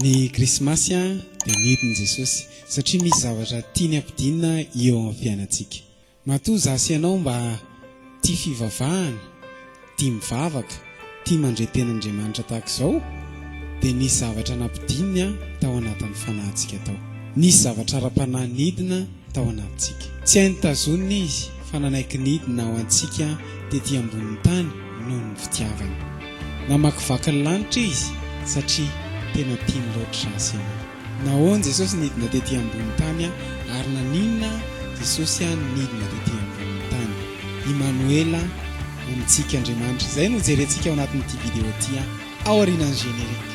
Ny krismasy dia nidin'i Jesosy satria misy zavatra tiany hampidinina eo amin'ny fiainantsika. Matoa izaho sy ianao mba tia fivavahana, tia mivavaka, tia mandre teny Andriamanitra tahaka izao, dia nisy zavatra nampidininy tao anatin'ny fanahintsika tao. Nisy zavatra ara-panahy nidina tao anatintsika. Tsy hainy tazonina Izy fa nanaiky nidina ho antsika tety ambonin'ny tany noho ny fitiavany. Namakivaky ny lanitra Izy satria tena tiany loatra Azy ianao. Nahoana Jesosy nidina tety ambonin'ny tany ary naninona Jesosy nidina tety ambonin'ny tany? Imanoela, Amintsika Andriamanitra. Izay no hojerentsika ao anatin'ity video ity, ao aorianan'ny générique.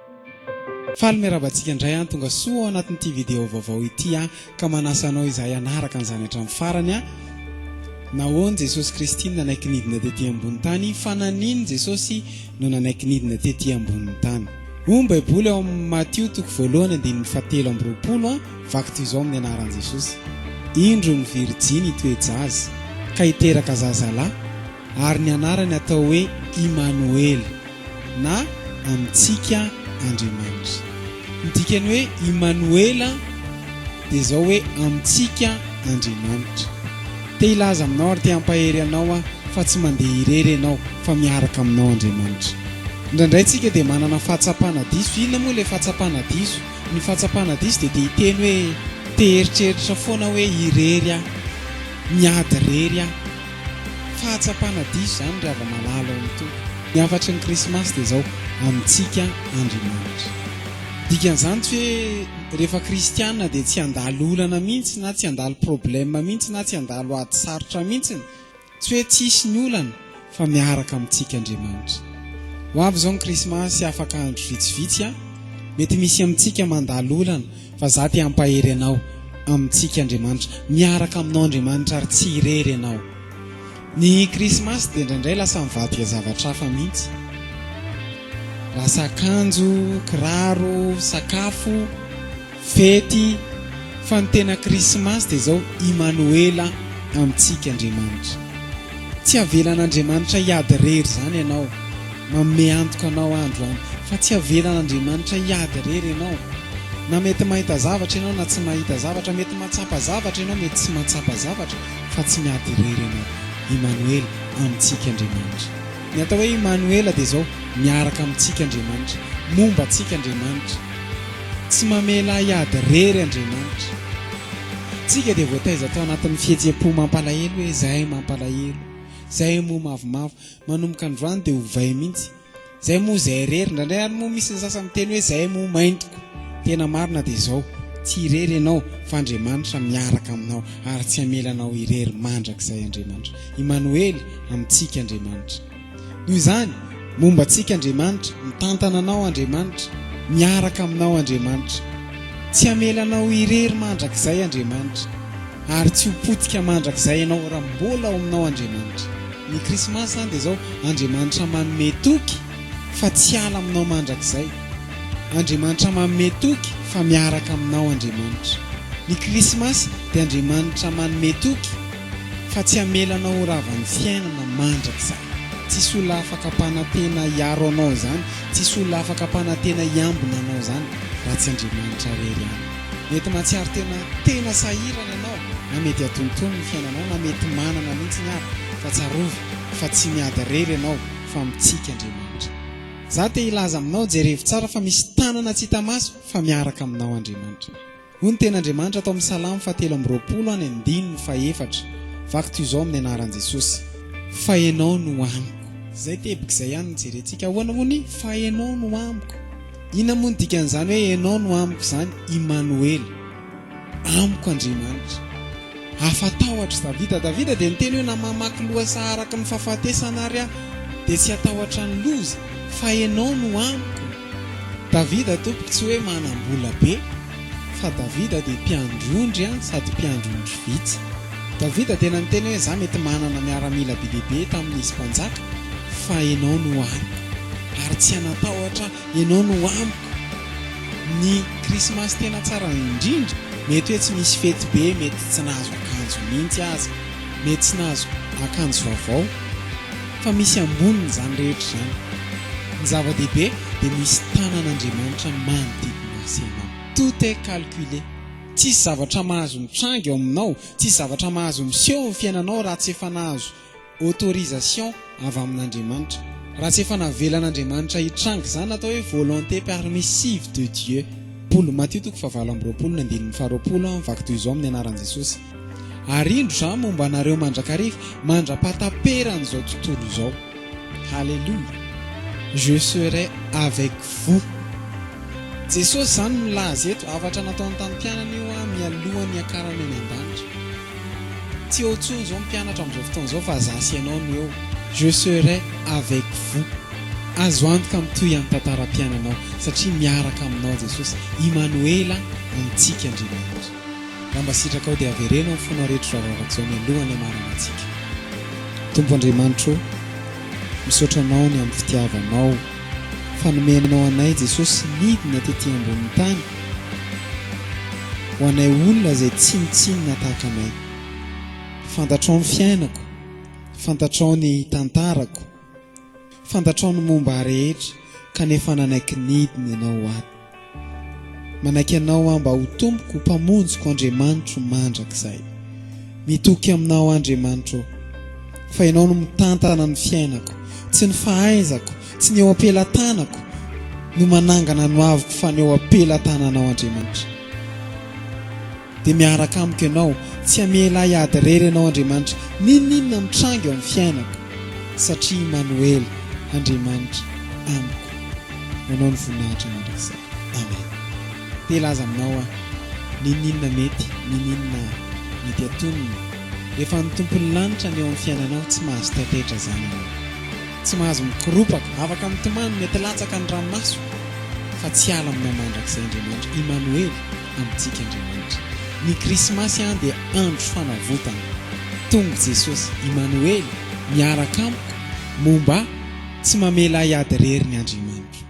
Faly miarahaba antsika indray an! Tonga soa ao anatin'ity video vaovao ity aho ka manasa anao izahay hanaraka an'izany hatramin'ny farany an! Nahoany Jesosy Kristy no nanaiky nidina tety ambony tany? Fa nanino Jesosy no nanaiky nidina tety ambony tany? Hoy ny Baiboly ao amin'ny Matio toko voalohany andininy fahatelo amby roapolo an! Vaky toy izao amin'ny anaran'i Jesosy, Indro ny virijiny hitoe-jaza ka hiteraka zazalahy Ary ny anarany atao hoe Imanoela, na Amintsika Andriamanitra. Ny dikan'ny hoe Imanoela dia izao hoe Amintsika Andriamanitra. Te hilaza aminao ary te hampahery anao aho fa tsy mandeha irery ianao fa miaraka aminao Andriamanitra. Indraindray tsika dia manana fahatsapana diso. Inona moa ilay fahatsapana diso? Ny fahatsapana diso dia te hiteny hoe te hieritreritra foana hoe irery aho, miady irery aho. Fahatsapana diso izany ry hava malala ao amin'ny Tompo. Ny hafatry ny krismasy dia izao, amintsika Andriamanitra. Dikan'izany tsy hoe rehefa kristiana dia tsy handalo olana mihitsy na tsy handalo problème mihitsy na tsy handalo ady sarotra mihitsy, tsy hoe tsisy ny olana fa miaraka amintsika Andriamanitra. Ho avy izao ny krismasy afaka andro vitsivitsy an! Mety misy amintsika mandalo olana. Fa za te hampahery anao amintsika Andriamanitra, miaraka aminao Andriamanitra ary tsy irery ianao. Ny krismasy dia indraindray lasa mivadika zavatra hafa mihitsy. Lasa akanjo, kiraro, sakafo, fety, fa ny tena krismasy dia izao Imanoela amintsika Andriamanitra. Tsy avelan'Andriamanitra hiady irery izany ianao. Manome antoka anao andro an. Fa tsy avelan'Andriamanitra hiady irery ianao. Na mety mahita zavatra ianao na tsy mahita zavatra, mety mahatsapa zavatra ianao mety tsy mahatsapa zavatra, fa tsy miady irery ianao. Imanoela, amintsika Andriamanitra. Ny atao hoe Imanoela dia izao, miaraka amintsika Andriamanitra. Momba antsika Andriamanitra. Tsy mamela hiady rery Andriamanitra. Tsika dia voataiza tao anatin'ny fihetseham-po mampalahelo hoe zahay mampalahelo, zahay moa mavomavo. Manomboka androany dia ovay mihitsy. Zahay moa zahay irery. Indraindray ary moa misy ny sasany miteny hoe zahay moa maintiko. Tena marina dia izao, tsy irery ianao fa Andriamanitra miaraka aminao ary tsy hamela anao irery mandrakizay Andriamanitra. Imanoely, amintsika Andriamanitra. Noho izany, momba antsika Andriamanitra, mitantana anao Andriamanitra, miaraka aminao Andriamanitra. Tsy hamela anao irery mandrakizay Andriamanitra, ary tsy ho potika mandrakizay ianao raha mbola ao aminao Andriamanitra. Ny Krismasy izany dia izao, Andriamanitra manome toky fa tsy hiala aminao mandrakizay. Andriamanitra manome toky fa miaraka aminao Andriamanitra. Ny Krismasy dia Andriamanitra manome toky. fa tsy hamela anao ho ravan'ny fiainana mandrakizay. Tsisy olona afaka hampanantena hiaro anao izany, tsisy olona afaka hampanantena hiambina anao izany raha tsy Andriamanitra irery ihany. Mety mahatsiaro tena tena sahirana ianao, na mety hatontono ny fiainanao, na mety manana mihitsy ary, fa tsarovy fa tsy miady irery ianao fa mitsiky Andriamanitra. Izaho te hilaza aminao, jerevo tsara fa misy tanana tsy hita maso fa miaraka aminao Andriamanitra. Hoy ny Tenin'Andriamanitra tao amin'ny Salamo fahatelo amby roapolo any andininy fahefatra, Vaky toy izao amin'ny anaran'i Jesosy, Fa Ianao no amiko. Izay teboka izay ihany no jerentsika. Ahoana moa ny Fa Ianao no amiko? Inona moa ny dikan'izany hoe Ianao no amiko izany? Imanoela, Amiko Andriamanitra. Afa tahotra Davida Davida dia niteny hoe na mamaky lohasaha araka ny fahafatesana ary aho dia tsy hatahotra ny loza fa Ianao no amiko Davida tompoko tsy hoe manam-bola be fa Davida dia mpiandry ondry an sady mpiandry ondry vitsy Davida tena niteny hoe za mety manana miaramila be dia be tamin izy mpanjaka fa Ianao no amiko ary tsy hanatahotra Ianao no amiko Ny krismasy tena tsara indrindra, mety hoe tsy misy fety be, mety tsy nahazo akanjo mihitsy aza, mety tsy nahazo akanjo vaovao, fa misy ambonin'izany rehetra izany, ny zava-dehibe dia misy tanan'Andriamanitra manodidina ahy sy ianao. Tout est calculé, tsisy zavatra mahazo mitranga eo aminao, tsisy zavatra mahazo miseho eo amin'ny fiainanao raha tsy efa nahazo autorisation avy amin'Andriamanitra. Raha tsy efa navelan'Andriamanitra hitranga izany atao hoe volonté permissive de Dieu. Paoly, Matio toko fahavalo amby roapolo ny andininy faharoapolo an, vaky toy izao amin'ny anaran'i Jesosy, Ary indro izaho momba anareo mandrakariva, mandra-pahataperan'izao tontolo izao. Haleloia! Je serai avec vous. Jesosy izany milaza eto, zavatra nataony tamin'ny mpianany io an, mialohan'ny hiakarany any an-danitra. Tsy eo intsony izao ny mpianatra amin'izao fotoana izao fa za sy ianao no eo. Je serai avec vous. Azo antoka mitohy any tantaram-piainanao satria miaraka aminao Jesosy. Imanoela amintsika Andriamanitra. Raha mba sitrakao dia avereno amin'ny fonao reto raharaha zao mialoha ny hamaranantsika. Tompo Andriamanitra o! Misaotra anao ny amin'ny fitiavanao. fa nomenao anay Jesosy nidina tety ambonin'ny tany ho anay olona izay tsinontsinona tahaka anay. Fantatrao ny fiainako, fantatrao ny tantarako, fantatrao ny momba ahy rehetra kanefa nanaiky nidina ianao ho ato. Manaiky Anao aho mba ho Tompoko, ho Mpamonjiko, Andriamanitro mandrakizay. Mitoky Aminao, Andriamanitro ô. Fa Ianao no mitantana ny fiainako. Tsy ny fahaizako, tsy ny eo am-pelatanako no manangana ny hoaviko fa ny eo am-pelatananao, Andriamanitra. Dia miaraka amiko ianao, tsy hamela ahy hady irery ianao Andriamanitra, n'inon'inona mitranga eo amin'ny fiainako, satria Imanoela, Andriamanitra amiko. Nanao ny voninahitra anao Ry Isaka. Amen. Te hilaza aminao aho, n'inon'inona mety, n'inon'inona mety hatonina, rehefa ny Tompon'ny lanitra ny eo amin'ny fiainanao, tsy mahazo taitaitra izany ianao. Tsy mahazo mikoropaka, afaka mitomany, mety latsaka ny ranomaso, fa tsy hiala aminao mandrakizay Andriamanitra, Imanoela. amintsika Andriamanitra. Ny Krismasy an dia andro fanavotana. Tonga Jesosy, Imanoely, miaraka amiko, momba ahy, tsy mamela ahy ady rery ny Andriamanitro.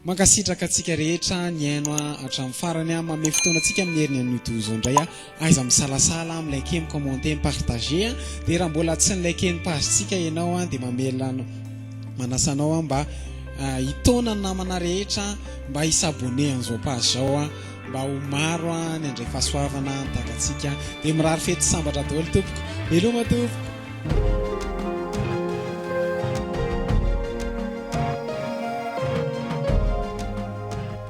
Mankasitraka antsika rehetra nihaino ahy hatramin'ny farany an, manome fotoana antsika amin'ny heriny anio toy izao indray aho, aiza misalasala an, mi-liker, mi-commenter, mi-partager an, dia raha mbola tsy ni-liker ny page-tsika ianao an dia mamela anao. Manasa anao aho mba hitaona ny namana rehetra mba hi s'abonner an'izao page zao mba ho maro ny handray fahasoavana ny takantsika dia mirary fety sambatra daholo tompoko. Veloma tompoko.